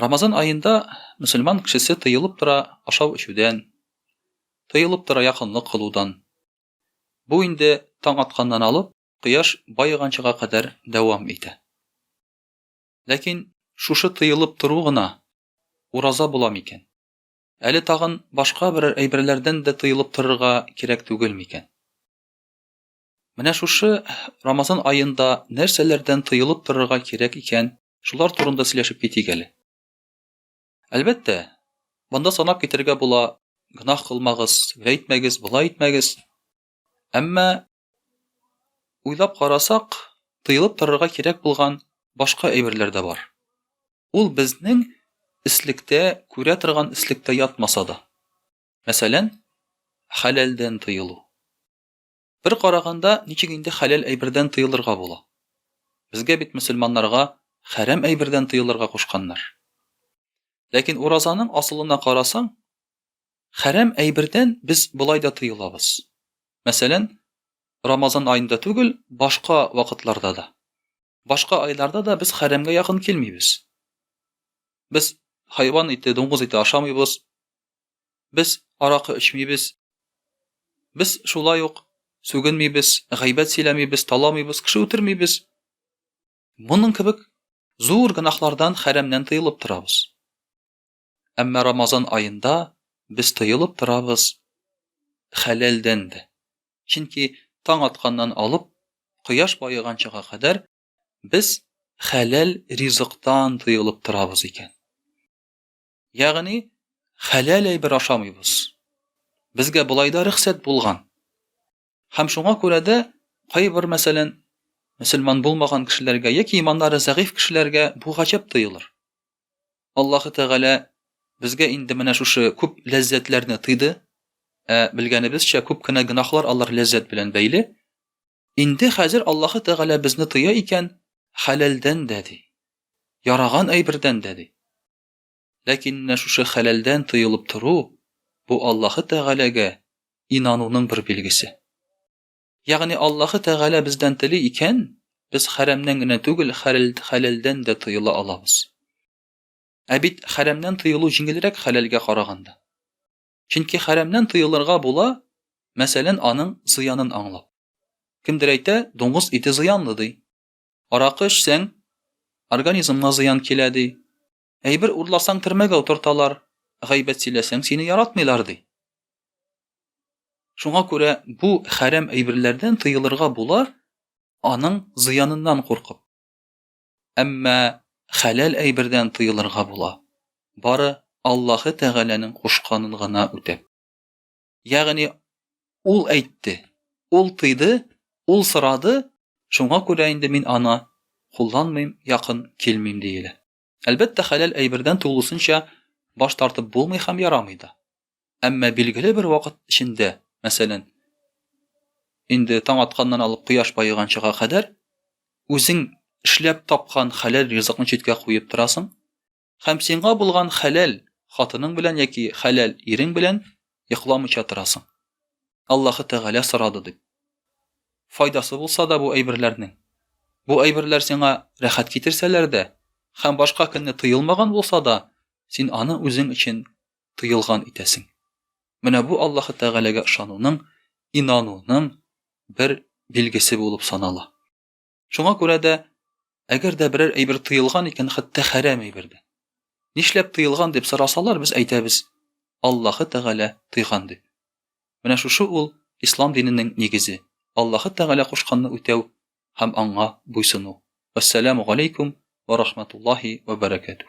Рамазан аенда мөселман кешесе тыелып тора ашау-эчүдән, тыелып тора якынлык кылудан. Бу инде таң атканнан алып, кояш баеганчыга кадәр дәвам итә. Ләкин шушы тыелып тору гына ураза була микән? Әле тагын башка берәр әйберләрдән дә тыелып торырга кирәк түгел микән? Менә шушы Рамазан аенда нәрсәләрдән тыелып торырга кирәк икән, шулар турында сөйләшеп китик әле. Әлбәттә, монда санап китергә була, гөнаһ кылмагыз, гөлә итмәгез, болай итмәгез. Әмма уйлап карасак, тыелып торырга кирәк булган башка әйберләр дә бар. Ул безнең эслектә, күрә торган эслектә ятмаса да. Мәсәлән, хәләлдән тыелу. Бер караганда, ничек инде хәләл әйбердән тыелырга була? Безгә бит мөселманнарга хәрам әйбердән тыелырга кушканнар. Ләкин уразаның асылына карасаң, хәрам әйбердән без болай да тыелабыз. Мәсәлән, Рамазан аенда түгел, башка вакытларда да. Башка айларда да без хәрәмгә якын килмибез. Без хайван ите, дуңгыз ите ашамыйбыз, без аракы эчмибез, без шулай ук сүгенмибез, гайбәт сөйләмибез, таламыйбыз, кеше үтермибез. Моның кебек зур гөнаһлардан, хәрәмнән тыелып торабыз. Әмма Рамазан аенда без тыелып торабыз хәләлдән дә. Чөнки таң атканнан алып, кояш баеганчага кадәр без хәләл ризыктан тыелып торабыз икән. Ягъни, хәләл әйбер ашамыйбыз. Безгә болай да рөхсәт булган. Һәм шуңа күрә дә кайбер, мәсәлән, мөселман булмаган кешеләргә яки иманнары зәгыйфь кешеләргә бу гаҗәп тоелыр. Аллаһы Тәгалә безгә инде менә шушы күп ләззәтләрне тыйды, ә белгәнебезчә, күп кенә гөнаһлар алар ләззәт белән бәйле. Инде хәзер Аллаһы Тәгалә безне тыя икән, хәләлдән дә ди, яраган әйбердән дә ди. Ләкин менә шушы хәләлдән тыелып тору, бу Аллаһы Тәгаләгә инануның бер билгесе. Ягъни Аллаһы Тәгалә бездән тели икән, без хәрәмнән генә түгел, хәләлдән дә тыела алабыз. Ә бит хәрәмнән тыелу җиңелрәк хәләлгә караганда. Чөнки хәрәмнән тыелырга була, мәсәлән, аның зыянын аңлап. Кемдер әйтә, дуңгыз ите зыянлы, ди. Аракы эчсәң, организмга зыян килә, ди. Әйбер урласаң, төрмәгә утырталар, гайбәт сөйләсәң, сине яратмыйлар, ди. Шуңа күрә бу хәрәм әйберләрдән тыелырга була, аның зыяныннан куркып. Әмма хәләл әйбердән тыелырга була, бары Аллаһы Тәгаләнең кушканын гына үтәп. Ягъни ул әйтте, ул тыйды, ул сорады, шуңа күрә инде мин аны кулланмыйм, якын килмим диелә. Әлбәттә, хәләл әйбердән тулысынча баш тартып булмый һәм ярамый да. Әмма билгеле бер вакыт эчендә, мәсәлән, инде таң атканнан алып кояш баеганчыга кадәр үзең эшләп тапкан хәләл ризыкны читкә куеп торасың, һәм сиңа булган хәләл хатының белән яки хәләл ирең белән йокламыйча торасың. Аллаһы Тәгалә сорады дип. Файдасы булса да бу әйберләрнең. Бу әйберләр сиңа рәхәт китерсәләр дә һәм башка көнне тыелмаган булса да, син аны үзең өчен тыелган итәсең. Менә бу Аллаһы Тәгаләгә ышануның, инануның бер билгесе булып санала. Шуңа күрә дә, әгәр дә берәр әйбер тыелган икән, хәтта хәрәм әйбер дә. Нишләп тыелган дип сорасалар, без әйтәбез, Аллаһы Тәгалә тыйган дип. Менә шушы ул ислам диненең нигезе, Аллаһы Тәгалә кушканны үтәү һәм аңа буйсыну. Вәссәламу галәйкүм вә рахматуллаһи вә бәрәкәтүһ.